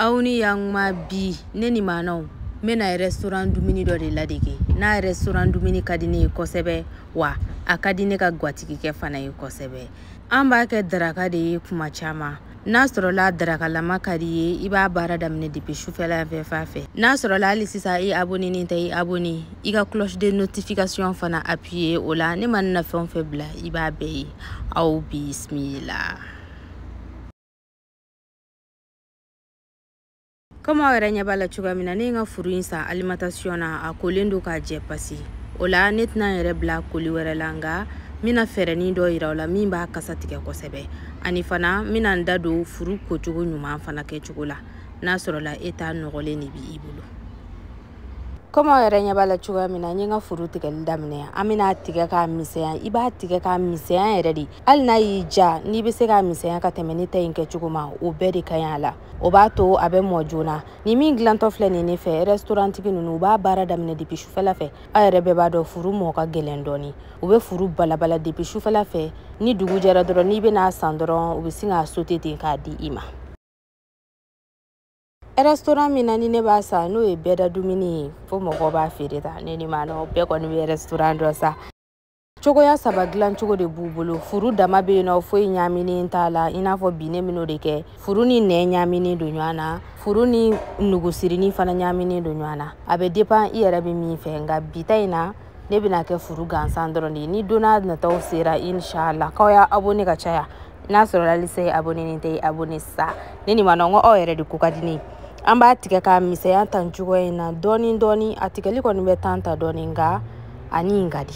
aw ni yanma bi ne ni maanaw n bɛna rɛstoran dumuni dɔ de ladege n'a rɛstoran dumuni ka di ne ye kosɛbɛ wa a ka di ne ka gwatigikɛ fana ye kosɛbɛ an b'a kɛ daraka de ye kuma caman n'a sɔrɔla darakalama ka di i ye i b'a baara daminɛ depi sufɛla yan fɛ fan fɛ n'a sɔrɔla hali sisan i abonenin tɛ i abone i ka cloche de notification fana appuyer o la ne mana na fɛn o fɛn bila i b'a bɛɛ ye aw bisimila komi aw yɛrɛ ɲɛ b'a la cogoya min na ne ye n ka furu in san alimantasiyɔn na a kolen don k'a jɛ pasi o la ne tɛna n yɛrɛ bila koli wɛrɛ la nka n bɛna fɛɛrɛnin dɔ yira aw la min b'a kasa tigɛ kosɛbɛ ani fana n bɛna n da don furu kocogo ɲuman fana kɛcogo la n'a sɔrɔla e ta nɔgɔlen de b'i bolo komi aw yɛrɛ ɲɛ b'a la cogoya min na n ye n ka furu tigɛli daminɛ an bɛna a tigɛ k'a misɛnya i b'a tigɛ k'a misɛnya yɛrɛ de hali n'a y'i ja n'i bɛ se k'a misɛnya ka tɛmɛ ne ta in kɛcogo ma o bɛɛ de ka ɲi a la o b'a to a bɛ mɔ joona nin min dilantɔ filɛ nin ne fɛ rɛstorantigi ninnu u b'a baara daminɛ depi sufɛla fɛ aw yɛrɛ bɛɛ b'a dɔn furu mɔ ka gɛlɛn dɔɔni u bɛ furu balabala depi sufɛla fɛ ni dugu jɛra dɔrɔn n'i bɛna a san dɔrɔn u bɛ sin k'a sote ten k'a di i ma rɛsitoran min na ni ne b'a san n'o ye bɛɛ da dumuni ye fo mɔgɔw b'a feere ta ne ni maa nɔ bɛɛ kɔni bɛ rɛsitoran dɔn sa cogoya saba dilancogo de b'u bolo furu dama bɛ yen n'o foyi ɲaaminen t'a la i n'a fɔ bi ne bɛn'o de kɛ furu ni nɛn ɲaaminen don ɲɔgɔn na furu ni nugusirini fana ɲaaminen don ɲɔgɔn na a bɛ depan i yɛrɛ bɛ min fɛ nka bi ta in na ne bɛna kɛ furu gansan dɔrɔn de ye ni don nataw sera inshallah k'aw y'a abonné ka caya n'a sɔrɔla halisa i abonenin tɛ abone sa ne ni ma nɔgɔ aw yɛrɛ de ko ka di ne an b'a tigɛ k'a misɛnya tan cogoya in na dɔɔni dɔɔni a tigɛli kɔni bɛ tan ta dɔɔni nka a ɲimi ka di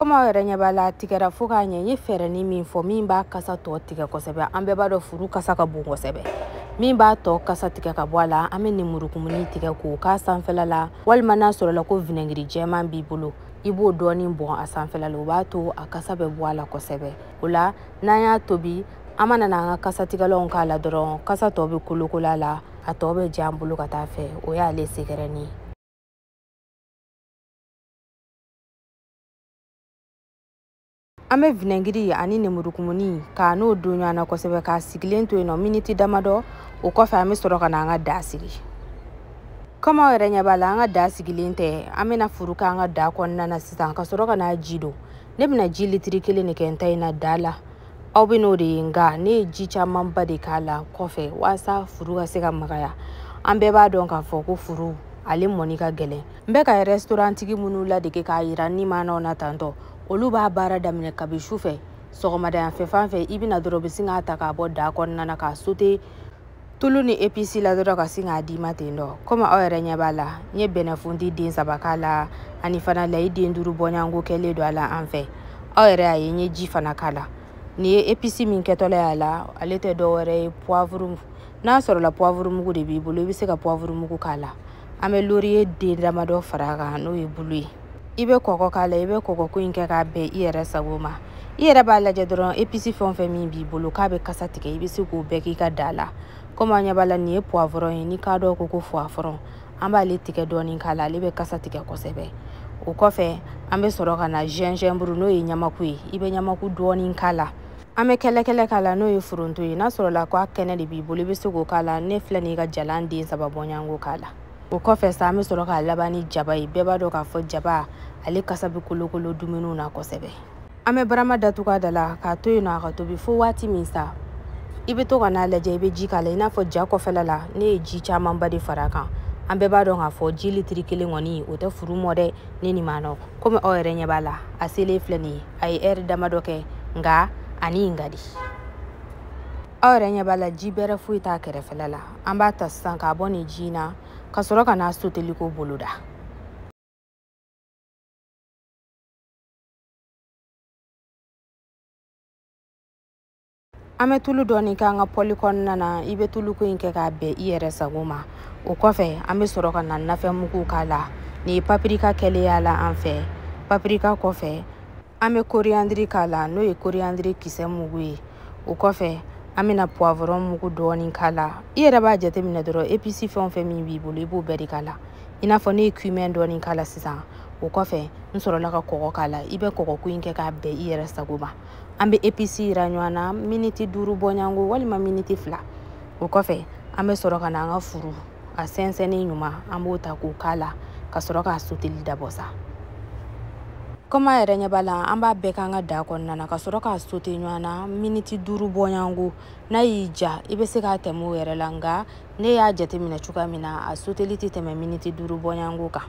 komi aw yɛrɛ ɲɛ b'a la a tigɛra fo ka ɲɛ n ye fɛɛrɛni min fɔ min b'a kasa tɔ tigɛ kosɛbɛ an bɛɛ b'a dɔn furu kasa ka bon kosɛbɛ min b'a tɔ kasa tigɛ ka bɔ a la an bɛ lemurukumuni tigɛ k'o k'a sanfɛla la walima n'a sɔrɔla ko vinɛgiri jɛman b'i bolo i b'o dɔɔnin bɔn a sanfɛla la o b'a to a kasa bɛ bɔ a la kosɛbɛ o la n'an y'a tobi an mana n'an ka kasatigɛlanw k'a la dɔrɔn kasa tɔ bɛ kolokolo a la a tɔ bɛ ja an bolo ka t'a fɛ o y'ale sekɛrɛni ye an bɛ vinɛgiri ani nemurukumuni k'a n'o don ɲɔgɔn na kosɛbɛ k'a sigilen to yen nɔ miniti damadɔ o kɔfɛ an bɛ sɔrɔ ka na an ka da sigi kɔmi aw yɛrɛ ɲɛ b'a la an ka da sigilen tɛ an bɛna furu kɛ an ka da kɔnɔna na sisan ka sɔrɔ ka n'a ji don ne bɛna ji litiri kelen de kɛ n ta in na da la aw bɛ n'o de ye nka ne ye ji camanba de k'a la kɔfɛ walasa furu ka se ka magaya an bɛɛ b'a dɔn k'a fɔ ko furu ale mɔni ka gɛlɛn n bɛ ka rɛstorantigi minnu ladege k'a yira ni maanaw na tantɔ olu b'a baara daminɛ kabi su fɛ sɔgɔmada yanfɛ fan fɛ i bɛ na dɔrɔn bɛ sin k'a ta k'a bɔ daa kɔnɔna na k'a sote tulu ni episi la dɔrɔn ka sin k'a d'i ma ten dɔ komi aw yɛrɛ ɲɛ b'a la n ye bɛnɛfunti den saba k'a la ani fana layi den duuru bɔɲanko kɛlen don a la an fɛ aw yɛrɛ y'a ye n ye ji fana k'a la nin ye episi min kɛtɔla y'a la ale tɛ dɔ wɛrɛ ye poivre n'a sɔrɔla poivre mugu de b'i bolo i bɛ se ka poivre mugu k'a la an bɛ loriye den damadɔ fara a kan n'o ye bulu ye i bɛ kɔkɔ k'a la i bɛ kɔkɔko in kɛ k'a bɛn i yɛrɛ sago ma i yɛrɛ b'a lajɛ dɔrɔn episi fɛn o fɛn min b'i bolo k'a bɛ kasa tigɛ i bɛ se k'o bɛɛ k'i ka da la komi aw ɲɛ b'a la nin ye puwavɔrɔn ye nka dɔw ko ko fuwafɔrɔn an b'ale tigɛ dɔɔnin k'a la ale bɛ kasa tigɛ kosɛbɛ o kɔfɛ an bɛ sɔrɔ ka na zinzɛnburu n'o ye ɲamaku ye i bɛ ɲamaku dɔɔnin k'a la an bɛ kɛlɛkɛlɛ k'a la n'o ye foronto ye n'a sɔrɔla ko a kɛnɛ de b'i bolo i bɛ se k'o k'a la ne filɛ nin k'a jalan den saba bɔɲanko k'a la o kɔfɛ sa an bɛ sɔrɔ k'a laban ni jaba ye bɛɛ b'a dɔn k'a fɔ jaba ale kasa bɛ kolokolo dumuniw na kosɛbɛ an bɛ barama datugu a da la k'a to yen nɔ a ka tobi fo waati min sa i bɛ to ka n'a lajɛ i bɛ ji k'a la i n'a fɔ ja kɔfɛla la ne ye ji camanba de fara a kan an bɛɛ b'a dɔn k'a fɔ ji litiri kelen kɔni o tɛ furu mɔ dɛ ne ni maa nɔ komi aw yɛrɛ ɲɛ b'a la a selen filɛ nin ye a ye ɛri damadɔ kɛ nka a ni in ka di aw yɛrɛ ɲɛ b'a la ji bɛrɛ foyi t'a kɛrɛfɛla la an b'a ta sisan k'a bɔ nin ji in na ka sɔrɔ ka n'a soteliko boloda an bɛ tulu dɔɔni kɛ an ka pɔli kɔnɔna na i bɛ tuluko in kɛ k'a bɛn i yɛrɛ sago ma o kɔfɛ an bɛ sɔrɔ ka na nafɛnmugu k'a la nin ye papirika kɛlen y'a la an fɛ papirika kɔfɛ an bɛ koriyandiri k'a la n'o ye koriyandiri kisɛ mugu ye o kɔfɛ an bɛna puwavɔrɔn mugu dɔɔni k'a la i yɛrɛ b'a jateminɛ dɔrɔn episi fɛn o fɛn min b'i bolo i b'o bɛɛ de k'a la i n'a fɔ ne ye kumɛn dɔɔni k'a la sisan o kɔfɛ n sɔrɔla ka kɔgɔ k'a la i bɛ kɔgɔko in kɛ k'a bɛn i yɛrɛ sago ma an bɛ episi yiran ɲɔgɔn na miniti duuru bɔɲango walima miniti fila o kɔfɛ an bɛ sɔrɔ ka na an ka furu a sɛnsɛnnen ɲuman an b'o ta k'o k'a la ka sɔrɔ k'a soteli dabɔ sa kɔmi aw yɛrɛ ɲɛ b'a la an b'a bɛɛ k'an ka da kɔnɔna na ka sɔrɔ k'a sote ɲɔgɔn na miniti duuru bɔɲango n'a y'i diya i bɛ se ka tɛmɛ o yɛrɛ la nka ne y'a jateminɛ cogoya min na a soteli tɛ tɛmɛ miniti duuru bɔɲango kan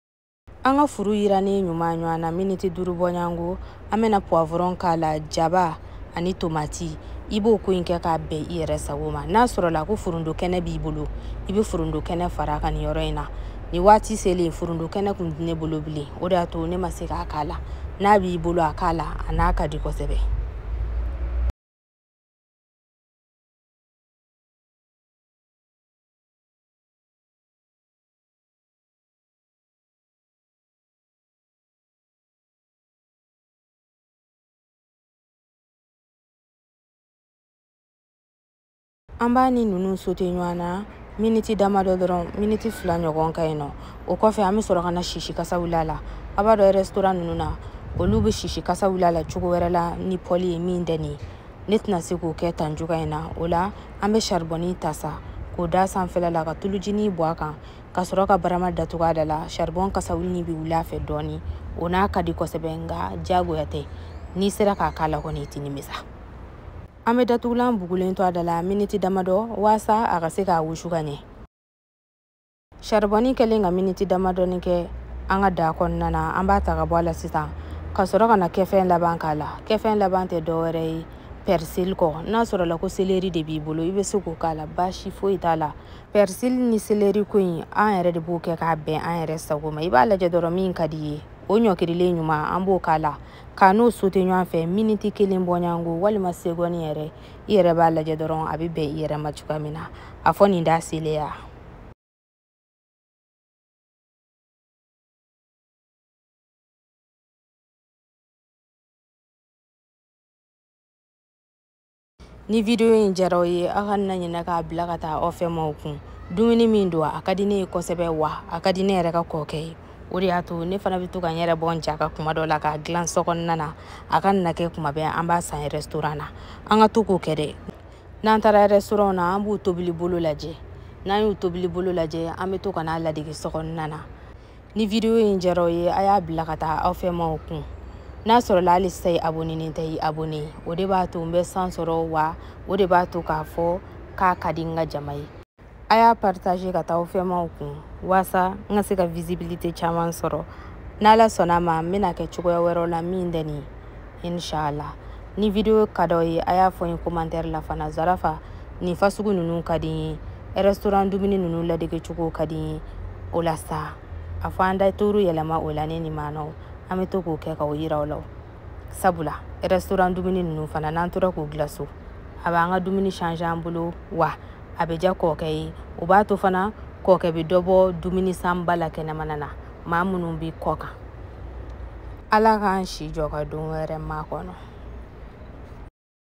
an ka furu yirannen ɲuman ɲɔgɔn na miniti duuru bɔɲango an bɛna puwavurɔn k'a la jaba ani tomati i b'o ko in kɛ k'a bɛn i yɛrɛ sago ma n'a sɔrɔla ko furundo kɛnɛ b'i bolo i bɛ furundo kɛnɛ fara kan nin yɔrɔ in na nin waati selen furundo kɛnɛ kun tɛ ne bolo bilen o de y'a to ne ma se k'a k'a la n'a b'i bolo a k'a la a n'a ka di kosɛbɛ an b'a ni ninnu sote ɲɔgɔn na miniti damadɔ dɔrɔn miniti fila ɲɔgɔn ka yen nɔ o kɔfɛ an bɛ sɔrɔ ka na sisi kasa wuli a la a b'a dɔn rɛsitoran ninnu na olu bɛ sisi kasa wuli a la cogo wɛrɛ la ni pɔli ye min tɛ nin ye ne tɛna se k'o kɛ tan cogoya in na o la an bɛ saribɔni ta sa k'o da sanfɛla la ka tulujini bɔ a kan ka sɔrɔ ka barama datugu a da la saribɔn kasa wulini bɛ wuli a fɛ dɔɔni o n'a ka di kosɛbɛ nka diyagoya tɛ n'i sera k'a k'a la kɔni i tɛ nimisa an bɛ datugulan bugulen to a da la miniti damadɔ waasa a ka se k'a wusu ka ɲɛ saribɔni kɛlen ka miniti damadɔni kɛ an ka daa kɔnɔna na an b'a ta ka bɔ a la sisan ka sɔrɔ ka na kɛfɛn laban k'a la kɛfɛn laban tɛ dɔwɛrɛ ye persil kɔ n'a sɔrɔla ko seleri de b'i bolo i bɛ se k'o k'a la baasi foyi t'a la persil ni seleri ko in an yɛrɛ de b'o kɛ k'a bɛn an yɛrɛ sago ma i b'a lajɛ dɔrɔn min ka di i ye o ɲɔkirilen ɲuman an b'o k'a la k'a n'o sote ɲɔgɔn fɛ miniti kelen bɔɲango walima segɔni yɛrɛ i yɛrɛ b'a lajɛ dɔrɔn a bɛ bɛn i yɛrɛ ma cogoya min na a fɔ nin da seleya ni video in diyara aw ye aw kana ɲinɛ k'a bila ka taa aw fɛ maaw kun dumuni min don a ka di ne ye kosɛbɛ wa a ka di ne yɛrɛ ka kɔkɛ ye o de y'a to ne fana bɛ to ka n yɛrɛ bɔ n ja ka kuma dɔ la k'a dilan so kɔnɔna na a kana kɛ kuma bɛɛ an b'a san restaurant na an ka to k'o kɛ dɛ n'an taara restaurant na an b'u tobili bolo lajɛ n'an y'u tobili bolo lajɛ an bɛ to ka n'a ladege so kɔnɔna na ni video in diyara aw ye a y'a bila ka taa aw fɛ maaw kun n'a sɔrɔla hali sisan i abonenen tɛ i abone o de b'a to n bɛ san sɔrɔ wa o de b'a to k'a fɔ k'a ka di n ka jama ye a y'a partager ka taa aw fɛ maaw kun waasa n ka se ka visibilité caman sɔrɔ n'ala sɔnna ma n bɛna kɛ cogoya wɛrɛw la min tɛ nin ye inshallah ni video ka d'aw ye a y'a fɔ n ye commentaire la fana zarafa nin fasugu ninnu ka di n ye restaurant dumuni ninnu ladege cogo ka di n ye o la sa a fɔ an da toro yɛlɛma o la ne ni maanaw an bɛ to k'o kɛ ka o yira aw la sabula restaurant dumuni ninnu fana n'an tora k'u dilan so a b'an ka dumuni changer an bolo wa a bɛ diya kɔɔkɛ ye o b'a to fana kɔɔkɛ bɛ dɔ bɔ dumuni sanba la kɛnɛma na maa minnu bɛ kɔkan ala k'an si jɔ ka don wɛrɛ makɔnɔ